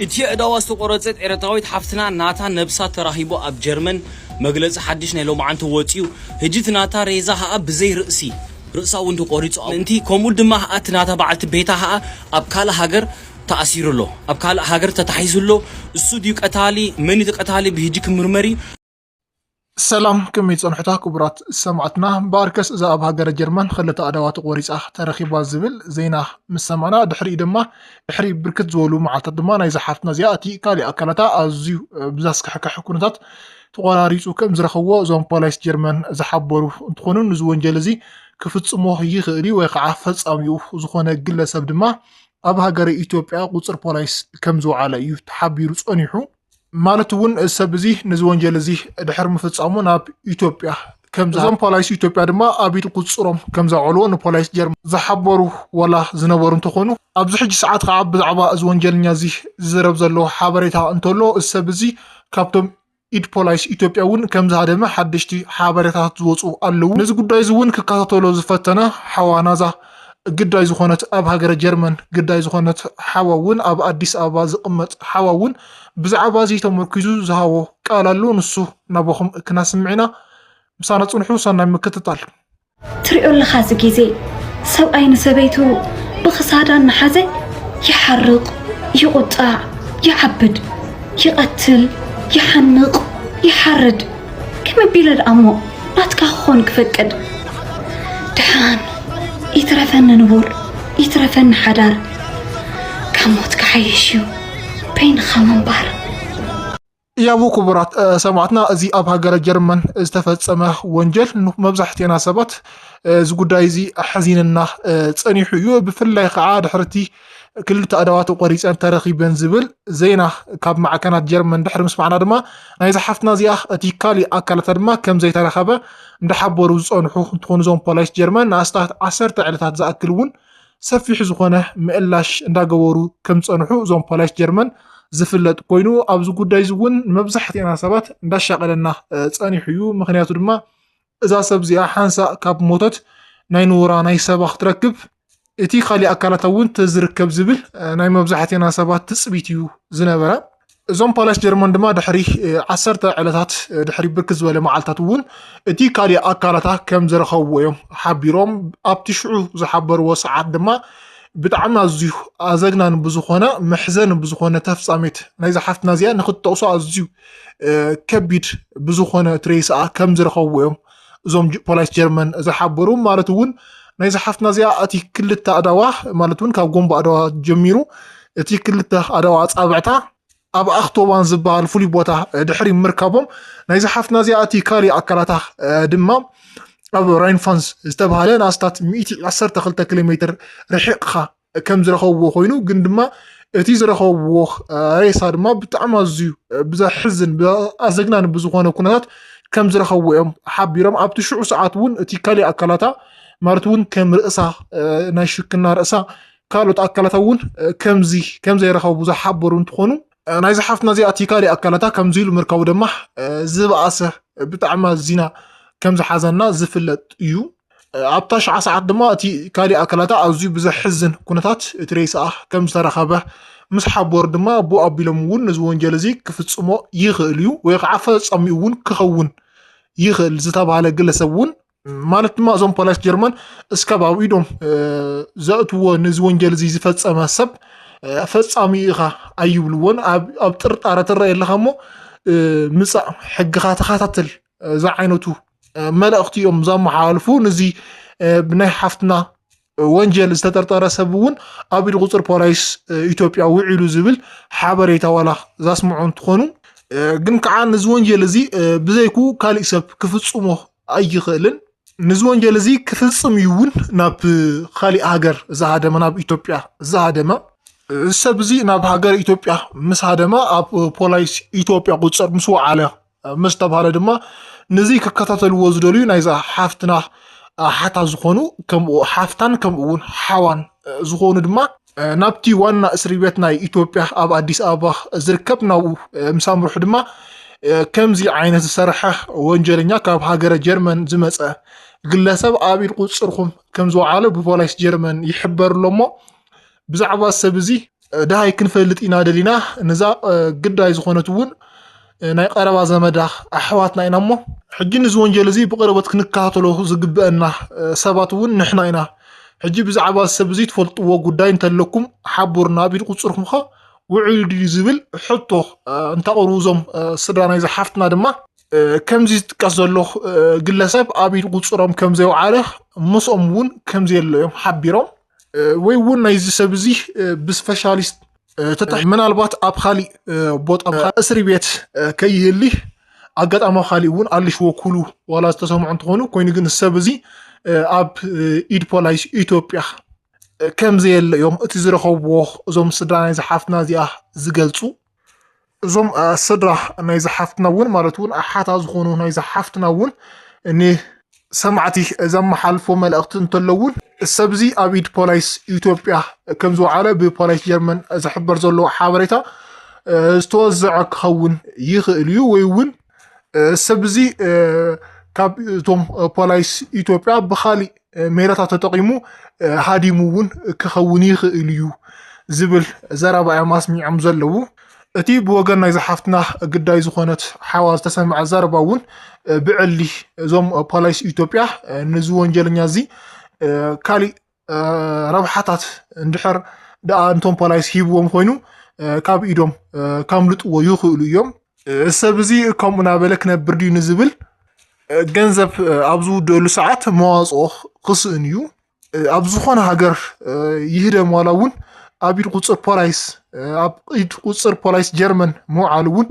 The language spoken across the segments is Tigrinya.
እቲ ኣእዳዋ ዝተቖረጸት ኤረትራዊት ሓፍትና ናታ ነብሳ ተራኺቡ ኣብ ጀርመን መግለጺ ሓድሽ ናይ ሎምዓንቲ ወጽዩ ህጂ እቲ ናታ ሬዛ ከኣ ብዘይ ርእሲ ርእሳ ውን ተቖሪጹ ኣውንቲ ከምኡ ድማ ከኣ እቲ ናታ በዓልቲ ቤታ ከኣ ኣብ ካልእ ሃገር ተኣሲሩ ኣሎ ኣብ ካልእ ሃገር ተታሒዙ ኣሎ እሱ ድዩ ቀታሊ መን እዩ እቲ ቀታሊ ብህጂ ክምርመር እዩ ሰላም ከመይ ጸንሑታ ክቡራት ሰማዕትና እምበኣርከስ እዛ ኣብ ሃገረ ጀርመን ክልተ ኣእዳዋ ተቖሪጻ ተረኺባ ዝብል ዜና ምስ ሰማዕና ድሕሪኡ ድማ ድሕሪ ብርክት ዝበሉ መዓልታት ድማ ናይ ዝሓፍትና እዚኣ እቲ ካሊእ ኣካላታ ኣዝዩ ብዛስካሕክሕ ኩነታት ተቖራሪጹ ከም ዝረኸብዎ እዞም ፖላይስ ጀርመን ዝሓበሩ እንትኾኑ ንዚ ወንጀል እዚ ክፍጽሞ ይኽእል እዩ ወይ ከዓ ፈጻሚኡ ዝኾነ ግለሰብ ድማ ኣብ ሃገረ ኢትዮጵያ ቁፅር ፖላይስ ከም ዝወዓለ እዩ ተሓቢሩ ጸኒሑ ማለት እውን ሰብ እዚ ነዚ ወንጀል እዚ ድሕሪ ምፍፃሙ ናብ ኢትዮጵያ ከምዚ እዞም ፖላይስ ኢትዮጵያ ድማ ኣብ ኢድ ቁፅፅሮም ከም ዘውዕልዎ ንፖላይስ ጀርመን ዝሓበሩ ዋላ ዝነበሩ እንተኾኑ ኣብዚ ሕጂ ሰዓት ከዓ ብዛዕባ እዚ ወንጀለኛ እዚ ዝዝረብ ዘሎ ሓበሬታ እንተሎ እዚ ሰብ እዚ ካብቶም ኢድ ፖላይስ ኢትዮጵያ እውን ከም ዝሃደመ ሓደሽቲ ሓበሬታት ዝወፁ ኣለዉ። ነዚ ጉዳይ እዚ እውን ክከታተሎ ዝፈተነ ሓዋ ናዛ ግዳይ ዝኾነት ኣብ ሃገረ ጀርመን ግዳይ ዝኾነት ሓዋ እውን ኣብ ኣዲስ ኣበባ ዝቕመጥ ሓዋ እውን ብዛዕባ እዚ ተመርኲዙ ዝሃቦ ቃል ኣሎ ንሱ ናባኹም ክናስምዕ ኢና ምሳና ጽንሑ ሰናይ ምክትታል። ትሪኦ ኣለኻ እዚ ግዜ ሰብኣይ ንሰበይቱ ብኽሳዳ እናሓዘ ይሓርቕ ይቑጣዕ ይዓብድ ይቐትል ይሓንቕ ይሓርድ ከመይ ኣቢለ ደኣ እሞ ናትካ ክኾን ክፈቅድ ደሓን ይትረፈኒ ንቡር ይትረፈኒ ሓዳር ካብ ሞት ክሓይሽ እዩ በይንኻ ምንባር ያቡ ክቡራት ሰማዕትና እዚ ኣብ ሃገረ ጀርመን ዝተፈፀመ ወንጀል መብዛሕትና ሰባት እዚ ጉዳይ እዚ ኣሕዚንና ፀኒሑ እዩ ብፍላይ ከዓ ድሕርቲ ክልተ ኣእዳዋተይ ቆሪጸን ተረኺበን ዝብል ዜና ካብ ማዕከናት ጀርመን ድሕሪ ምስማዕና ድማ ናይዛ ሓፍትና እዚኣ እቲ ካሊእ ኣካላታ ድማ ከም ዘይተረኸበ እንዳሓበሩ ዝጸንሑ እንትኾኑ እዞም ፖላይስ ጀርመን ንኣስታት ዓሰርተ ዕለታት ዝኣክል እውን ሰፊሕ ዝኾነ ምእላሽ እንዳገበሩ ከም ዝጸንሑ እዞም ፖላይስ ጀርመን ዝፍለጥ ኮይኑ ኣብዚ ጉዳይ እዚ እውን መብዛሕትኤና ሰባት እንዳሻቀለና ጸኒሑ እዩ ምክንያቱ ድማ እዛ ሰብ እዚኣ ሓንሳእ ካብ ሞተት ናይ ንቡራ ናይ ሰባ ክትረክብ እቲ ካሊእ ኣካላታ እውን ተዝርከብ ዝብል ናይ መብዛሕቴና ሰባት ትፅቢት እዩ ዝነበረ። እዞም ፓላሽ ጀርመን ድማ ድሕሪ ዓሰርተ ዕለታት ድሕሪ ብርክ ዝበለ መዓልታት እውን እቲ ካሊእ ኣካላታ ከም ዝረኸብዎ እዮም ሓቢሮም። ኣብቲ ሽዑ ዝሓበርዎ ሰዓት ድማ ብጣዕሚ ኣዝዩ ኣዘግናኒ ብዝኾነ መሕዘኒ ብዝኾነ ተፍፃሜት ናይዛ ሓፍትና እዚኣ ንክትጠቕሶ ኣዝዩ ከቢድ ብዝኾነ እቲ ሬሳኣ ከም ዝረኸብዎ እዮም እዞም ፖላይስ ጀርመን ዝሓበሩ ማለት እውን ናይ ዝሓፍትና እዚኣ እቲ ክልተ ኣዳዋ ማለት እውን ካብ ጎንቦ ኣዳዋ ጀሚሩ እቲ ክልተ ኣዳዋ ኣጻብዕታ ኣብ ኣክቶባን ዝበሃል ፍሉይ ቦታ ድሕሪ ምርካቦም ናይ ዝሓፍትና እዚኣ እቲ ካሊእ ኣካላታ ድማ ኣብ ራይንፋንስ ዝተባሃለ ንኣስታት 112 ኪሎ ሜትር ርሒቕኻ ከም ዝረኸብዎ ኮይኑ ግን ድማ እቲ ዝረኸብዎ ሬሳ ድማ ብጣዕሚ ኣዝዩ ብዘሕዝን ኣዘግናን ብዝኾነ ኩነታት ከም ዝረኸብዎ እዮም ሓቢሮም ኣብቲ ሽዑ ሰዓት እውን እቲ ካልእ ኣካላታ ማለት እውን ከም ርእሳ ናይ ሽክና ርእሳ ካልኦት ኣካላታ እውን ከምዚ ከም ዘይረኸቡ ዝሓበሩ እንትኾኑ ናይዚ ሓፍትና እዚኣ እቲ ካልእ ኣካላታ ከምዚ ኢሉ ምርካቡ ድማ ዝበኣሰ ብጣዕሚ ኣዚና ከም ዝሓዘና ዝፍለጥ እዩ ኣብታ ሽዓ ሰዓት ድማ እቲ ካልእ ኣካላታ ኣዝዩ ብዘሕዝን ኩነታት እቲ ሬሳኣ ከም ዝተረኸበ ምስ ሓበሩ ድማ ኣቦ ኣቢሎም እውን ነዚ ወንጀል እዚ ክፍጽሞ ይኽእል እዩ ወይ ከዓ ፈጸሚኡ እውን ክኸውን ይኽእል ዝተባሃለ ግለሰብ እውን ማለት ድማ እዞም ፖላይስ ጀርመን እስካብ ኣብ ኢዶም ዘእትዎ ነዚ ወንጀል እዚ ዝፈፀመ ሰብ ፈፃሚ ኢኻ ኣይብልዎን ኣብ ጥርጣረ ትረአ ኣለኻ እሞ ምፃእ ሕግኻ ተኸታተል እዚ ዓይነቱ መልእኽቲ እዮም ዘመሓላልፉ ንዚ ብናይ ሓፍትና ወንጀል ዝተጠርጠረ ሰብ እውን ኣብ ኢድ ቁፅር ፖላይስ ኢትዮጵያ ውዒሉ ዝብል ሓበሬታ ዋላ ዛስምዑ እንትኾኑ ግን ከዓ ንዚ ወንጀል እዚ ብዘይኩ ካሊእ ሰብ ክፍፅሞ ኣይኽእልን ንዚ ወንጀል እዚ ክፍፅም እዩ እውን ናብ ካሊእ ሃገር ዝሃደመ ናብ ኢትዮጵያ ዝሃደመ እዚ ሰብ እዚ ናብ ሃገር ኢትዮጵያ ምስ ሃደመ ኣብ ፖላይስ ኢትዮጵያ ቁፅር ምስ ወዓለ ምስ ተባሃለ ድማ ንዚ ክከታተልዎ ዝደልዩ ናይዛ ሓፍትና ሓታ ዝኾኑ ከምኡ ሓፍታን ከምኡ እውን ሓዋን ዝኾኑ ድማ ናብቲ ዋና እስሪ ቤት ናይ ኢትዮጵያ ኣብ ኣዲስ ኣበባ ዝርከብ ናብኡ ምስ ኣምርሑ ድማ ከምዚ ዓይነት ዝሰርሐ ወንጀለኛ ካብ ሃገረ ጀርመን ዝመፀ ግለሰብ ኣብ ኢድ ቁፅርኹም ከም ዝወዓለ ብፖላይስ ጀርመን ይሕበር ኣሎ እሞ ብዛዕባ እዚ ሰብ እዚ ደሃይ ክንፈልጥ ኢና ደሊና፣ ነዛ ግዳይ ዝኾነት እውን ናይ ቀረባ ዘመዳ ኣሕዋትና ኢና እሞ ሕጂ ነዚ ወንጀል እዚ ብቕርበት ክንከታተሎ ዝግበአና ሰባት እውን ንሕና ኢና። ሕጂ ብዛዕባ እዚ ሰብ እዚ ትፈልጥዎ ጉዳይ እንተለኩም ሓቡርና ቢል ቁጽርኩም ከ ውዕሉ ድዩ ዝብል ሕቶ እንተቕርቡ እዞም ስድራ ናይዛ ሓፍትና ድማ ከምዚ ዝጥቀስ ዘሎ ግለሰብ ኣብ ኢድ ቁጽሮም ከም ዘይወዓለ ምስኦም እውን ከም ዘየለ እዮም ሓቢሮም። ወይ እውን ናይዚ ሰብ እዚ ብስፔሻሊስት ተታሒ ምናልባት ኣብ ካሊእ ቦታ እስሪ ቤት ከይህሊ ኣጋጣሚ ካሊእ እውን ኣልሽዎ ኩሉ ዋላ ዝተሰምዑ እንትኾኑ ኮይኑ ግን ሰብ እዚ ኣብ ኢድ ፖላይስ ኢትዮጵያ ከም ዘየለ እዮም እቲ ዝረኸብዎ እዞም ስድራ ናይዚ ሓፍትና እዚኣ ዝገልፁ። እዞም ሰድራ ናይዚ ሓፍትና እውን ማለት እውን ኣሓታ ዝኾኑ ናይዚ ሓፍትና እውን ንሰማዕቲ ዘመሓልፎ መልእኽቲ እንተለውን ሰብዚ ኣብ ኢድ ፖላይስ ኢትዮጵያ ከም ዝወዓለ ብፖላይስ ጀርመን ዝሕበር ዘሎ ሓበሬታ ዝተወዘዐ ክኸውን ይኽእል እዩ ወይ እውን ሰብ እዚ ካብ እቶም ፖላይስ ኢትዮጵያ ብካሊእ ሜላታት ተጠቒሙ ሃዲሙ እውን ክኸውን ይኽእል እዩ ዝብል ዘረባ እዮም ኣስሚዖም ዘለዉ። እቲ ብወገን ናይዛ ሓፍትና ግዳይ ዝኾነት ሓዋ ዝተሰምዐ ዘረባ እውን ብዕሊ እዞም ፖላይስ ኢትዮጵያ ንዚ ወንጀለኛ እዚ ካሊእ ረብሓታት እንድሕር ደኣ እንቶም ፖላይስ ሂብዎም ኮይኑ ካብ ኢዶም ከምልጥዎ ይኽእሉ እዮም። ሰብ እዚ ከምኡ ናበለ ክነብር ድዩ ንዝብል ገንዘብ ኣብ ዝውደሉ ሰዓት መዋፅኦ ክስእን እዩ። ኣብ ዝኾነ ሃገር ይህደም ዋላ እውን ኣብ ኢድ ቁፅር ፖላይስ ኣብ ኢድ ቁፅር ፖላይስ ጀርመን ምውዓሉ እውን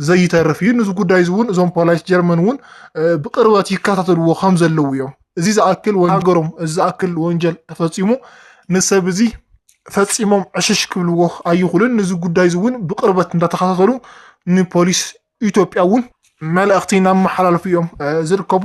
ዘይተርፍ እዩ። ንዚ ጉዳይ እዚ እውን እዞም ፖላይስ ጀርመን እውን ብቅርበት ይከታተልዎ ከም ዘለዉ እዮም። እዚ ዝኣክል ወን ሃገሮም እዚ ዝኣክል ወንጀል ተፈጺሙ ንሰብ እዚ ፈጺሞም ዕሽሽ ክብልዎ ኣይኹልን ንዚ ጉዳይ እዚ እውን ብቅርበት እንዳተኸታተሉ ንፖሊስ ኢትዮጵያ እውን መልእኽቲ እናመሓላለፉ እዮም ዝርከቡ።